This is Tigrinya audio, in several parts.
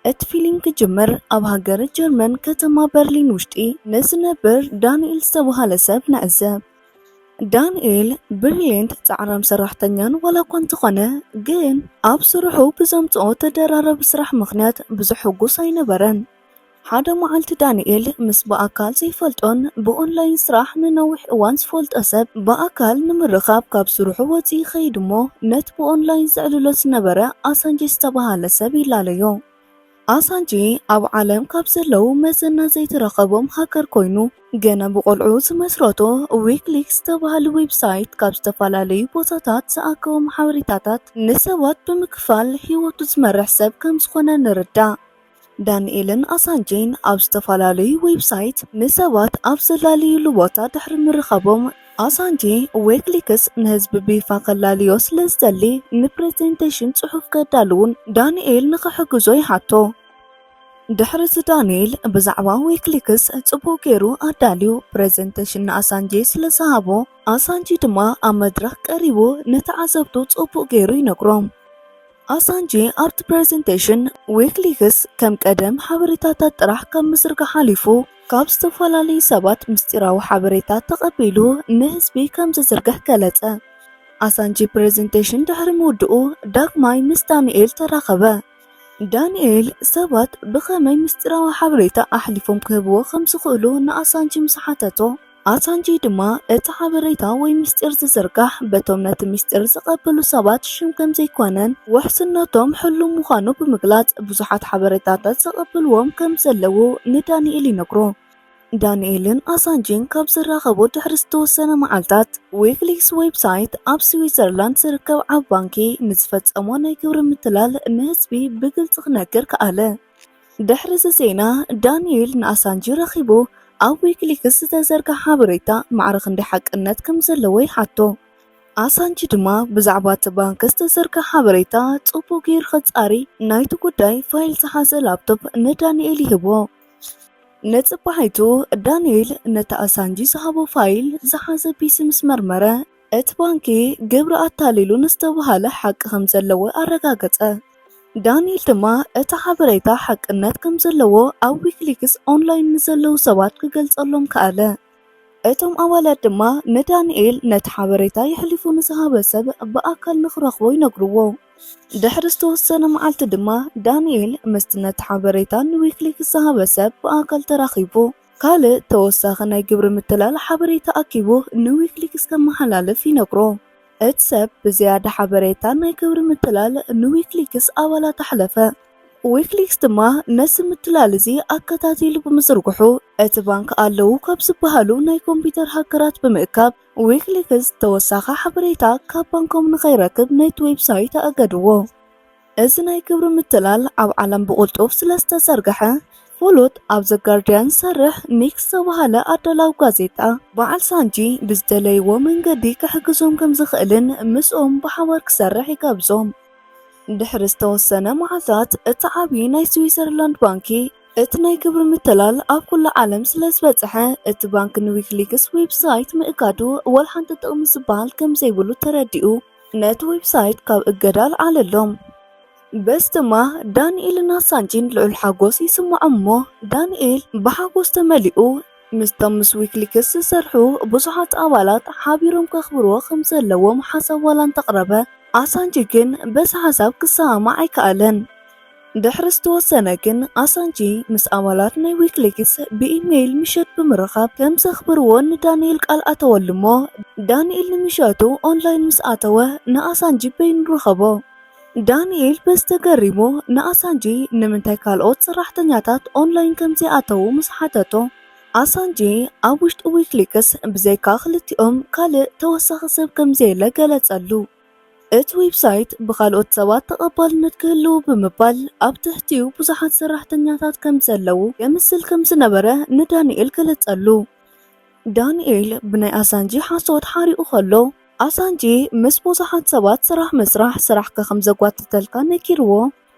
እቲ ፊሊም ክጅምር ኣብ ሃገረ ጀርመን ከተማ በርሊን ውሽጢ ንዝነብር ዳንኤል ዝተባሃለ ሰብ ንዕዘብ። ዳንኤል ብሪሊየንት ጻዕራም ሰራሕተኛን ዋላ እኳ እንተኾነ ግን ኣብ ስርሑ ብዘምጽኦ ተደራራቢ ስራሕ ምኽንያት ብዙሕ ሕጉስ ኣይነበረን። ሓደ መዓልቲ ዳንኤል ምስ ብኣካል ዘይፈልጦን ብኦንላይን ስራሕ ንነዊሕ እዋን ዝፈልጦ ሰብ ብኣካል ንምርኻብ ካብ ስርሑ ወፂኡ ይኸይድ እሞ ነቲ ብኦንላይን ዘዕልሎ ዝነበረ ኣሳንጄ ዝተባሃለ ሰብ ይላለዮ። ኣሳንጄ ኣብ ዓለም ካብ ዘለዉ መዘና ዘይተረኸቦም ሃከር ኮይኑ ገና ብቆልዕኡ ዝመስረቶ ዊክሊክስ ዝተባሃለ ዌብሳይት ካብ ዝተፈላለዩ ቦታታት ዝኣከቦም ሓበሬታታት ንሰባት ብምክፋል ህይወቱ ዝመርሕ ሰብ ከምዝኾነ ንርዳእ። ዳኒኤልን ኣሳንጄን ኣብ ዝተፈላለዩ ዌብሳይት ንሰባት ኣብ ዘላለዩሉ ቦታ ድሕሪ ምርኻቦም ኣሳንጄ ዌክሊክስ ንህዝቢ ብይፋ ከላልዮ ስለ ዝደሊ ንፕሬዘንቴሽን ጽሑፍ ከዳልውን ዳኒኤል ንኽሕግዞ ይሓቶ። ድሕሪ እቲ ዳኒኤል ብዛዕባ ዌክሊክስ ጽቡቕ ገይሩ ኣዳልዩ ፕሬዘንቴሽን ንኣሳንጄ ስለ ዝሃቦ ኣሳንጄ ድማ ኣብ መድረኽ ቀሪቡ ንተዓዘብቱ ጽቡቕ ገይሩ ይነግሮም። ኣሳንጄ ኣብቲ ፕረዘንተሽን ዊክሊክስ ከም ቀደም ሓበሬታታት ጥራሕ ካብ ምዝርጋሕ ሓሊፉ ካብ ዝተፈላለዩ ሰባት ምስጢራዊ ሓበሬታ ተቐቢሉ ንህዝቢ ከም ዝዝርግሕ ገለጸ። ኣሳንጄ ፕረዘንተሽን ድሕሪ ምውድኡ ዳግማይ ምስ ዳንኤል ተራኸበ። ዳንኤል ሰባት ብኸመይ ምስጢራዊ ሓበሬታ ኣሕሊፎም ክህብዎ ከም ዝኽእሉ ንኣሳንጄ ምስ ሓተቶ፣ ኣሳንጂ ድማ እቲ ሓበሬታ ወይ ምስጢር ዝዝርጋሕ በቶም ነቲ ምስጢር ዝቐበሉ ሰባት ሽም ከምዘይኮነን ውሕስነቶም ሕሉው ምዃኑ ብምግላጽ ብዙሓት ሓበሬታታት ዝቐበልዎም ከምዘለዉ ንዳንኤል ይነግሮ። ዳንኤልን ኣሳንጂን ካብ ዝራኸቡ ድሕሪ ዝተወሰነ መዓልታት፣ ዊክሊክስ ዌብሳይት ኣብ ስዊዘርላንድ ዝርከብ ዓቢ ባንኪ ንዝፈጸሞ ናይ ግብሪ ምትላል ንህዝቢ ብግልጺ ክነግር ከኣለ። ድሕሪ እዚ ዜና፣ ዳኒኤል ንኣሳንጅ ረኺቡ ኣብ ዊኪሊክስ ዝተዘርግሐ ሓበሬታ ማዕረ ክንደይ ሓቅነት ከም ዘለዎ ይሓቶ። ኣሳንጅ ድማ ብዛዕባ እቲ ባንክ ዝተዘርግሐ ሓበሬታ ጽቡቕ ገይሩ ከጻሪ ናይቲ ጉዳይ ፋይል ዝሓዘ ላፕቶፕ ንዳኒኤል ይህቦ። ንጽባሒቱ ዳኒኤል ነቲ ኣሳንጅ ዝሃቦ ፋይል ዝሓዘ ፒሲ ምስ መርመረ፣ እቲ ባንኪ ግብሪ ኣታሊሉ ንዝተብሃለ ሓቂ ከምዘለዎ ኣረጋገጸ። ዳኒኤል ድማ እቲ ሓበሬታ ሓቅነት ከምዘለዎ ኣብ ዊኪሊክስ ኦንላይን ንዘለዉ ሰባት ክገልጸሎም ከኣለ። እቶም ኣባላት ድማ ንዳኒኤል ነቲ ሓበሬታ የሕሊፉ ንዝሃበ ሰብ ብኣካል ንኽረኽቦ ይነግርዎ። ድሕሪ ዝተወሰነ መዓልቲ ድማ ዳኒኤል ምስቲ ነቲ ሓበሬታ ንዊኪሊክስ ዝሃበ ሰብ ብኣካል ተራኺቡ። ካልእ ተወሳኺ ናይ ግብሪ ምትላል ሓበሬታ ኣኪቡ ንዊክሊክስ ከመሓላልፍ ይነግሮ። እቲ ሰብ ብዝያዳ ሓበሬታ ናይ ግብሪ ምትላል ንዊክሊክስ ኣባላት ኣሕለፈ። ዊክሊክስ ድማ ነዚ ምትላል እዚ ኣከታቲሉ ብምዝርግሑ፣ እቲ ባንክ ኣለዉ ካብ ዝበሃሉ ናይ ኮምፒተር ሃከራት ብምእካብ፣ ዊክሊክስ ተወሳኺ ሓበሬታ ካብ ባንኮም ንኸይረክብ ነቲ ዌብሳይት ኣእገድዎ። እዚ ናይ ግብሪ ምትላል ኣብ ዓለም ብቕልጡፍ ስለ ዝተዘርግሐ፣ ፍሉጥ ኣብ ዘ ጋርድያን ዝሰርሕ ሚክስ ዝተባህለ ኣዳላዊ ጋዜጣ፣ በዓል ሳንጂ ብዝደለይዎ መንገዲ ክሕግዞም ከም ዝኽእልን ምስኦም ብሓባር ክሰርሕ ይጋብዞም። ድሕሪ ዝተወሰነ መዓልታት፣ እቲ ዓብዪ ናይ ስዊዘርላንድ ባንኪ፣ እቲ ናይ ግብሪ ምትላል ኣብ ኩሉ ዓለም ስለ ዝበጽሐ፣ እቲ ባንኪ ንዊኪሊክስ ዌብሳይት ምእጋዱ ወላ ሓንቲ ጥቕሚ ዝበሃል ከም ዘይብሉ ተረዲኡ። ነቲ ዌብሳይት ካብ እገዳ ኣልዓለሎም። በዚ ድማ ዳንኤልን ኣሳንጂን ልዑል ሓጎስ ይስምዖም እሞ ዳንኤል ብሓጎስ ተመሊኡ ምስቶም ምስ ዊክሊክስ ዝሰርሑ ብዙሓት ኣባላት ሓቢሮም ከኽብርዎ ከም ዘለዎም ሓሳብ ዋላ እንተቕረበ ኣሳንጂ ግን በዚ ሓሳብ ክሰማማዕ ኣይከኣለን። ድሕሪ ዝተወሰነ ግን ኣሳንጂ ምስ ኣባላት ናይ ዊክሊክስ ብኢመይል ምሸት ብምርኻብ ከም ዘኽብርዎ ንዳንኤል ቃል ኣተወሉ እሞ ዳንኤል ንምሸቱ ኦንላይን ምስ ኣተወ ንኣሳንጂ በይኑ ረኸቦ። ዳንኤል በዚ ተገሪሙ ንኣሳንጂ ንምንታይ ካልኦት ሰራሕተኛታት ኦንላይን ከም ዘይኣተዉ ምስ ሓተቶ ኣሳንጂ ኣብ ውሽጢ ዊክሊክስ ብዘይካ ክልቲኦም ካልእ ተወሳኺ ሰብ ከም ዘየለ ገለጸሉ። እቲ ዌብሳይት ብኻልኦት ሰባት ተቐባልነት ክህልው ብምባል ኣብ ትሕቲኡ ብዙሓት ሰራሕተኛታት ከም ዘለዉ የምስል ከም ዝነበረ ንዳንኤል ገለጸሉ። ዳንኤል ብናይ ኣሳንጂ ሓሶት ሓሪቑ ከሎ፣ ኣሳንጂ ምስ ብዙሓት ሰባት ስራሕ ምስራሕ ስራሕካ ከም ዘጓትተልካ ነጊርዎ።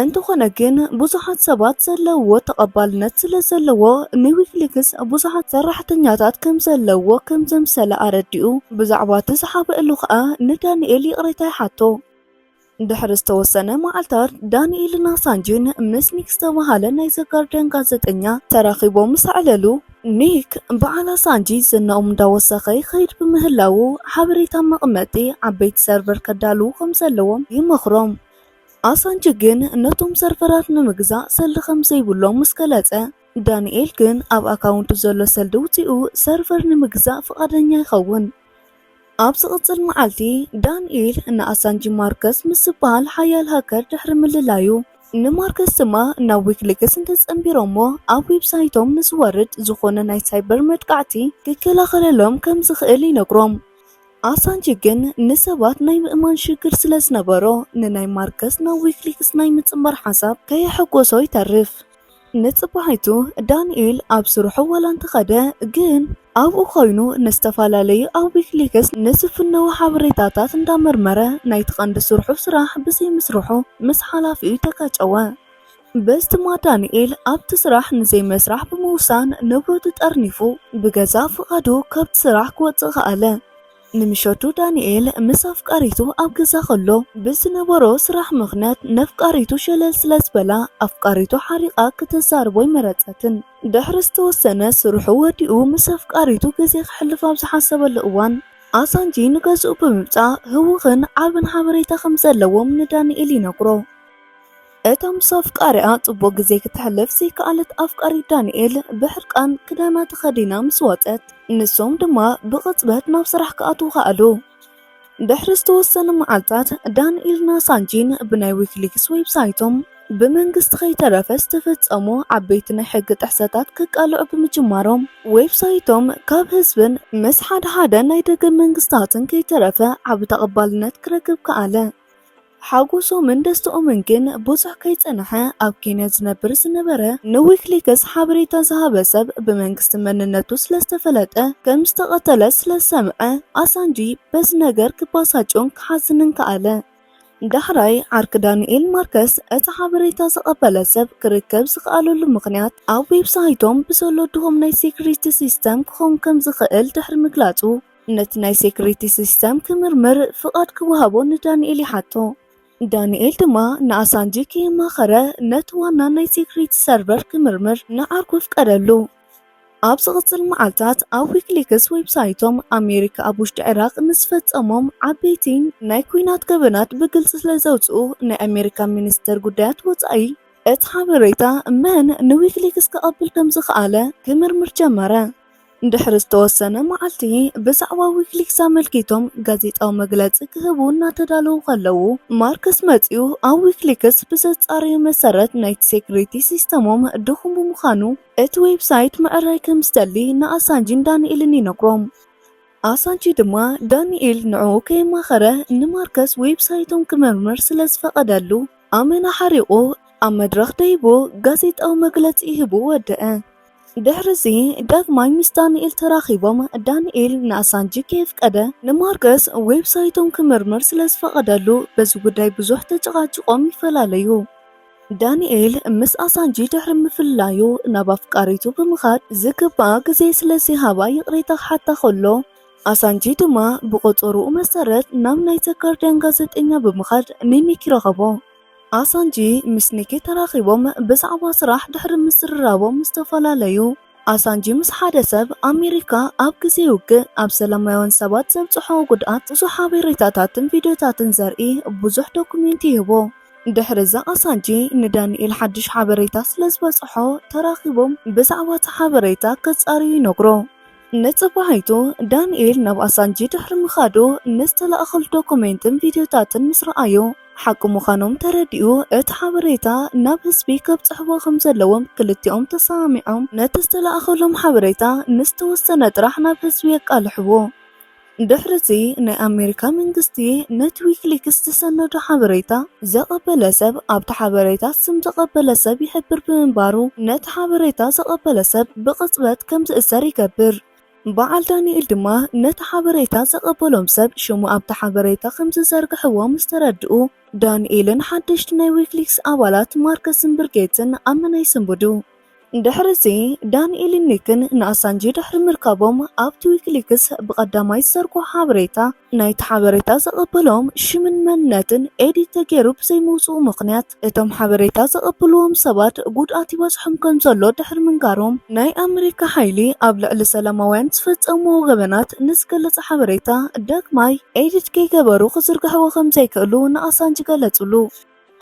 እንተኾነ ግን ብዙሓት ሰባት ዘለውዎ ተቐባልነት ስለዘለዎ ንዊኪሊክስ ብዙሓት ሰራሕተኛታት ከምዘለውዎ ከምዘምሰለ ኣረዲኡ። ብዛዕባ እቲ ዝሓበእሉ ከኣ ንዳኒኤል ይቕሬታ ይሓቶ። ድሕሪ ዝተወሰነ መዓልታት ዳኒኤልን ኣሳንጅን ምስ ኒክ ዝተበሃለ ናይ ዘ ጋርድያን ጋዘጠኛ ተራኺቦም ምስ ኣዕለሉ፣ ኒክ በዓል ኣሳንጅ ዝናኦም እንዳወሰኸ ይኸይድ ብምህላዉ ሓበሬታ መቐመጢ ዓበይቲ ሰርቨር ከዳልዉ ከምዘለዎም ይመኽሮም። ኣሳንች ግን ነቶም ሰርቨራት ንምግዛእ ሰልዲ ከም ዘይብሎም ምስ ገለጸ፣ ዳኒኤል ግን ኣብ ኣካውንቱ ዘሎ ሰልዲ ውጺኡ ሰርቨር ንምግዛእ ፍቓደኛ ይኸውን። ኣብ ዝቕጽል መዓልቲ፣ ዳኒኤል ንኣሳንጅ ማርከስ ምስ ዝበሃል ሓያል ሃከር ድሕሪ ምልላዩ፣ ንማርከስ ድማ ናብ ዊክሊክስ እንተጸንቢሮሞ ኣብ ዌብሳይቶም ንዝወርድ ዝኾነ ናይ ሳይበር መጥቃዕቲ ክከላኸለሎም ከም ዝኽእል ይነግሮም። ኣሳንጅ ግን ንሰባት ናይ ምእማን ሽግር ስለ ዝነበሮ ንናይ ማርከስ ናብ ዊክሊክስ ናይ ምጽንባር ሓሳብ ከየሐጎሶ ይተርፍ። ንጽባሒቱ ዳንኤል ኣብ ስርሑ ዋላ እንተኸደ ግን ኣብኡ ኮይኑ ንዝተፈላለዩ ኣብ ዊክሊክስ ንዝፍነዉ ሓበሬታታት እንዳመርመረ ናይቲ ቀንዲ ስርሑ ስራሕ ብዘይምስርሑ ምስ ሓላፊኡ ተጋጨወ። በስትማ ዳንኤል ኣብቲ ስራሕ ንዘይመስራሕ ብምውሳን ንብረቱ ጠርኒፉ ብገዛእ ፍቓዱ ካብቲ ስራሕ ክወጽእ ከኣለ። ንምሸቱ ዳንኤል ምስ ኣፍቃሪቱ ኣብ ገዛ ከሎ ብዝነበሮ ስራሕ ምኽንያት ነፍቃሪቱ ሸለል ስለ ዝበላ ኣፍቃሪቱ ሓሪቓ ክተዛርቦ ኣይመረጸትን። ድሕሪ ዝተወሰነ ስርሑ ወዲኡ ምስ ኣፍቃሪቱ ግዜ ከሕልፍ ኣብ ዝሓሰበሉ እዋን ኣሳንጂ ንገዝኡ ብምምጻእ ህዉኽን ዓብን ሓበሬታ ከም ዘለዎም ንዳንኤል ይነግሮ። እታ ምስ ኣፍቃሪኣ ጽቡቕ ግዜ ክተሕልፍ ዘይከኣለት ኣፍቃሪት ዳንኤል ብሕርቃን ክዳና ተኸዲና ምስ ወጸት፣ ንሶም ድማ ብቕጽበት ናብ ስራሕ ክኣትዉ ከኣሉ። ድሕሪ ዝተወሰነ መዓልታት፣ ዳንኤልና ሳንጂን ብናይ ዊኪሊክስ ዌብሳይቶም ብመንግስቲ ከይተረፈ ዝተፈጸሙ ዓበይቲ ናይ ሕጊ ጥሕሰታት ክቃልዑ ብምጅማሮም፣ ዌብሳይቶም ካብ ህዝብን ምስ ሓድሓደ ናይ ደገ መንግስታትን ከይተረፈ ዓቢ ተቐባልነት ክረክብ ከኣለ። ሓጎሶምን ደስትኦምን ግን ብዙሕ ከይጸንሐ፣ ኣብ ኬንያ ዝነብር ዝነበረ ንዊክሊክስ ሓበሬታ ዝሃበ ሰብ ብመንግስቲ መንነቱ ስለዝተፈለጠ ከምዝተቐተለ ስለዝሰምዐ፣ ኣሳንጂ በዚ ነገር ክበሳጮን ክሓዝንን ከኣለ። ዳሕራይ ዓርኪ ዳንኤል ማርከስ እቲ ሓበሬታ ዝቐበለ ሰብ ክርከብ ዝኸኣለሉ ምኽንያት ኣብ ዌብሳይቶም ብዘሎ ድኹም ናይ ሴኩሪቲ ሲስተም ክኸውን ከምዝኽእል ድሕሪ ምግላጹ፣ ነቲ ናይ ሴክሪቲ ሲስተም ክምርምር ፍቓድ ክወሃቦ ንዳንኤል ይሓቶ። ዳንኤል ድማ ንኣሳንጂ ከየማኸረ ነቲ ዋና ናይ ሴክሪቲ ሰርቨር ክምርምር ንዓርኩ ኣፍቀደሉ። ኣብ ዝቕጽል መዓልታት ኣብ ዊክሊክስ ዌብሳይቶም ኣሜሪካ ኣብ ውሽጢ ዒራቕ ንዝፈጸሞም ዓበይቲ ናይ ኩናት ገበናት ብግልጺ ስለ ዘውጽኡ ናይ ኣሜሪካ ሚኒስተር ጉዳያት ወጻኢ እቲ ሓበሬታ መን ንዊክሊክስ ክቐብል ከም ዝኸኣለ ክምርምር ጀመረ። ድሕሪ ዝተወሰነ መዓልቲ ብዛዕባ ዊክሊክስ ኣመልኪቶም ጋዜጣዊ መግለፂ ክህቡ እናተዳለዉ ከለዉ ማርክስ መፂኡ ኣብ ዊክሊክስ ብዘፃረዩ መሰረት ናይቲ ሴኩሪቲ ሲስተሞም ድኹም ብምዃኑ እቲ ዌብሳይት ምዕራይ ከም ዝደሊ ንኣሳንጂን ዳንኤልን ይነግሮም። ኣሳንጂ ድማ ዳንኤል ንዕኡ ከየማኸረ ንማርከስ ዌብሳይቶም ክምርምር ስለ ዝፈቐደሉ ኣመና ሓሪቑ ኣብ መድረኽ ደይቡ ጋዜጣዊ መግለፂ ሂቡ ወደኣ። ድሕርዚ ዳግማይ ምስ ዳንኤል ተራኺቦም ዳንኤል ንኣሳንጂ ከየፍቀደ ንማርከስ ዌብሳይቶም ክምርምር ስለዝፈቐደሉ በዚ ጉዳይ ብዙሕ ተጨቓጪቖም ይፈላለዩ። ዳንኤል ምስ ኣሳንጂ ድሕሪ ምፍልላዩ ናብ ኣፍቃሪቱ ብምኻድ ዝግባኣ ግዜ ስለዘይሃባ ይቕሬታ ክሓታ ከሎ ኣሳንጂ ድማ ብቖጸርኡ መሰረት ናብ ናይ ዘ ጋርድያን ጋዜጠኛ ብምኻድ ንኒክ ይረኸቦ። ኣሳንጂ ምስ ኒኪ ተራኺቦም ብዛዕባ ስራሕ ድሕሪ ምዝርራቦም ዝተፈላለዩ። ኣሳንጂ ምስ ሓደ ሰብ ኣሜሪካ ኣብ ግዜ ውግእ ኣብ ሰላማውያን ሰባት ዘብጽሖ ጉድኣት ብዙሕ ሓቤሬታታትን ቪድዮታትን ዘርኢ ብዙሕ ዶኩሜንት ይህቦ። ድሕሪዚ ኣሳንጂ ንዳኒኤል ሓድሽ ሓበሬታ ስለዝበጽሖ ተራኺቦም ብዛዕባቲ ሓበሬታ ከጻርዩ ይነግሮ። ንጽባሒቱ፣ ዳንኤል ናብ ኣሳንጂ ድሕሪ ምኻዱ፣ ንዝተላእከሉ ዶኩሜንትን ቪድዮታትን ምስ ረኣዮ፣ ሓቂ ምዃኖም ተረዲኡ እቲ ሓበሬታ ናብ ህዝቢ ከብጽሕዎ ከም ዘለዎም ክልቲኦም ተሰማሚዖም። ነቲ ዝተላእከሎም ሓበሬታ ንዝተወሰነ ጥራሕ ናብ ህዝቢ የቃልሕዎ። ድሕሪ'ዚ ናይ ኣሜሪካ መንግስቲ ነቲ ዊኪሊክስ ዝሰነዶ ሓበሬታ ዘቐበለ ሰብ ኣብቲ ሓበሬታ ስም ዘቐበለ ሰብ ይሕብር ብምንባሩ ነቲ ሓበሬታ ዘቐበለ ሰብ ብቕጽበት ከም ዝእሰር ይገብር። በዓል ዳኒኤል ድማ ነቲ ሓበሬታ ዘቐበሎም ሰብ ሽሙ ኣብቲ ሓበሬታ ከም ዝዘርግሕዎ ምስ ተረድኡ ዳኒኤልን ሓደሽቲ ናይ ዊኪሊክስ ኣባላት ማርከስን ብርጌትን ኣብ ምናይ ይስንብዱ። ድሕርዚ፣ ዳኒኤልን ኒክን ንኣሳንጅ ድሕሪ ምርካቦም፣ ኣብቲ ዊኪሊክስ ብቐዳማይ ዝዘርግሖ ሓበሬታ፣ ናይቲ ሓበሬታ ዘቐበሎም ሽምን መንነትን ኤዲት ተገይሩ ብዘይምውጽኡ ምኽንያት፣ እቶም ሓበሬታ ዘቐብልዎም ሰባት ጉድኣት ይበጽሖም ከምዘሎ ድሕሪ ምንጋሮም፣ ናይ ኣመሪካ ሓይሊ ኣብ ልዕሊ ሰላማውያን ዝፈጸምዎ ገበናት ንዝገልጽ ሓበሬታ ዳግማይ ኤዲት ከይገበሩ ክዝርግሕዎ ከምዘይክእሉ ንኣሳንጅ ገለጹሉ።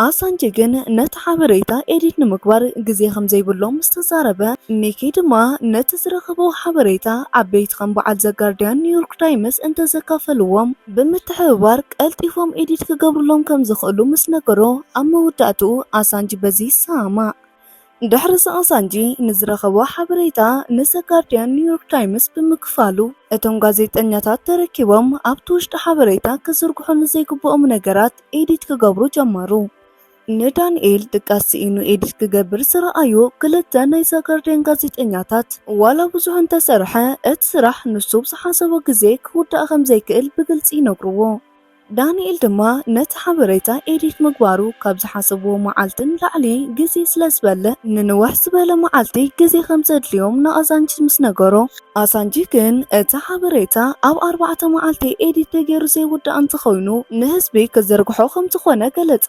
ኣሳንጀ ግን ነቲ ሓበሬታ ኤዲት ንምግባር ግዜ ከም ዘይብሎም ምስ ተዛረበ፣ ሚኪ ድማ ነቲ ዝረኸቦ ሓበሬታ ዓበይቲ ከም በዓል ዘ ጋርድያንን ኒውዮርክ ታይምስ እንተ ዘካፈልዎም ብምትሕብባር ቀልጢፎም ኤዲት ክገብርሎም ከም ዝኽእሉ ምስ ነገሮ፣ ኣብ መወዳእትኡ ኣሳንጅ በዚ ይሰማማዕ። ድሕሪ እዚ ኣሳንጂ ንዝረኸቦ ሓበሬታ ምስ ጋርዲያን ኒውዮርክ ታይምስ ብምክፋሉ እቶም ጋዜጠኛታት ተረኪቦም ኣብቲ ውሽጢ ሓበሬታ ክዝርግሑ ንዘይግብኦም ነገራት ኤዲት ክገብሩ ጀመሩ። ንዳንኤል ድቃስ ስኢኑ ኤዲት ክገብር ዝረኣዩ ክልተ ናይ ዘጋርዲያን ጋዜጠኛታት ዋላ ብዙሕ እንተሰርሐ እቲ ስራሕ ንሱ ብዝሓሰቦ ግዜ ክውዳእ ከም ዘይክእል ብግልጺ ይነግርዎ። ዳኒኤል ድማ ነቲ ሓበሬታ ኤዲት ምግባሩ ካብ ዝሓሰብዎ መዓልቲ ንላዕሊ ግዜ ስለ ዝበልዕ ንንውሕ ዝበለ መዓልቲ ግዜ ከም ዘድልዮም ንኣሳንችስ ምስ ነገሮ፣ ኣሳንችስ ግን እቲ ሓበሬታ ኣብ ኣርባዕተ መዓልቲ ኤዲት ተገይሩ ዘይውዳእ እንተኾይኑ ንህዝቢ ክዝርግሖ ከም ዝኾነ ገለጸ።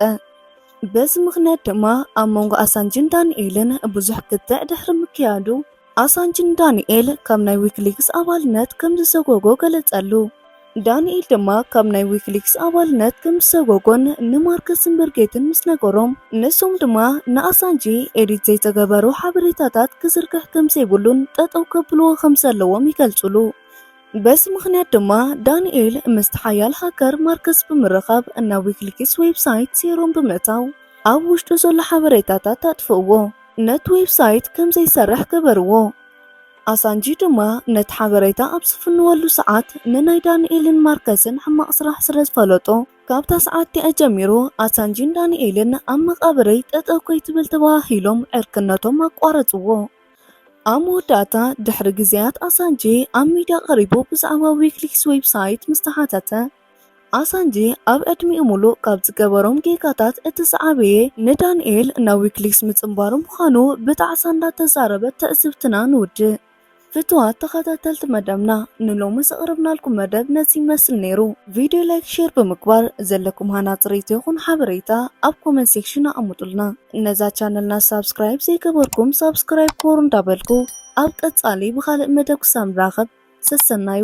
በዚ ምኽንያት ድማ ኣብ መንጎ ኣሳንችስን ዳኒኤልን ብዙሕ ክትዕ ድሕሪ ምክያዱ፣ ኣሳንጅ ንዳኒኤል ካብ ናይ ዊኪሊክስ ኣባልነት ከም ዝሰጎጎ ገለጸሉ። ዳኒኤል ድማ ካብ ናይ ዊኪሊክስ ኣባልነት ከም ዝሰጎጎን ንማርከስን ብርጌትን ምስ ነገሮም፣ ንሶም ድማ ንኣሳንጂ ኤዲት ዘይተገበሩ ሓበሬታታት ክዝርግሕ ከም ዘይብሉን ጠጠው ከብልዎ ከም ዘለዎም ይገልጹሉ። በዚ ምኽንያት ድማ ዳኒኤል ምስቲ ሓያል ሃከር ማርከስ ብምርኻብ ናብ ዊኪሊክስ ዌብሳይት ሴሮም ብምእታው ኣብ ውሽጡ ዘሎ ሓበሬታታት ኣጥፍእዎ። ነቲ ዌብሳይት ከም ዘይሰርሕ ገበርዎ። ኣሳንጂ ድማ ነቲ ሓበሬታ ኣብ ዝፍንወሉ ሰዓት ንናይ ዳኒኤልን ማርከስን ሕማቕ ስራሕ ስለ ዝፈለጦ፣ ካብታ ሰዓት'ቲኣ ጀሚሩ ኣሳንጂን ዳኒኤልን ኣብ መቓብረይ ጠጠው ከይትብል ተበሃሂሎም ዕርክነቶም ኣቋረጽዎ። ኣብ መወዳእታ ድሕሪ ግዜያት ኣሳንጂ ኣብ ሚድያ ቀሪቡ ብዛዕባ ዊኪሊክስ ዌብሳይት ምስ ተሓተተ፣ ኣሳንጂ ኣብ ዕድሚኡ ሙሉእ ካብ ዝገበሮም ጌጋታት እቲ ዝዓበየ ንዳንኤል ናብ ዊክሊክስ ምፅምባሩ ምዃኑ ብጣዕሳ እንዳተዛረበት ትዕዝብትና ንውድእ። ፍትዋት ተኸታተልቲ መደብና ንሎሚ ዘቕረብናልኩም መደብ ነዚ ይመስል ነይሩ። ቪድዮ ላይክ ሼር ብምግባር ዘለኩም ሃናፂ ሪኢቶ ይኹን ሓበሬታ ኣብ ኮመንት ሴክሽን ኣቐምጡልና። ነዛ ቻነልና ሳብስክራይብ ዘይገበርኩም ሳብስክራይብ ግበሩ እንዳበልኩ፣ ኣብ ቀጻሊ ብኻልእ መደብ ክሳብ ንራኸብ ሰሰናዩ።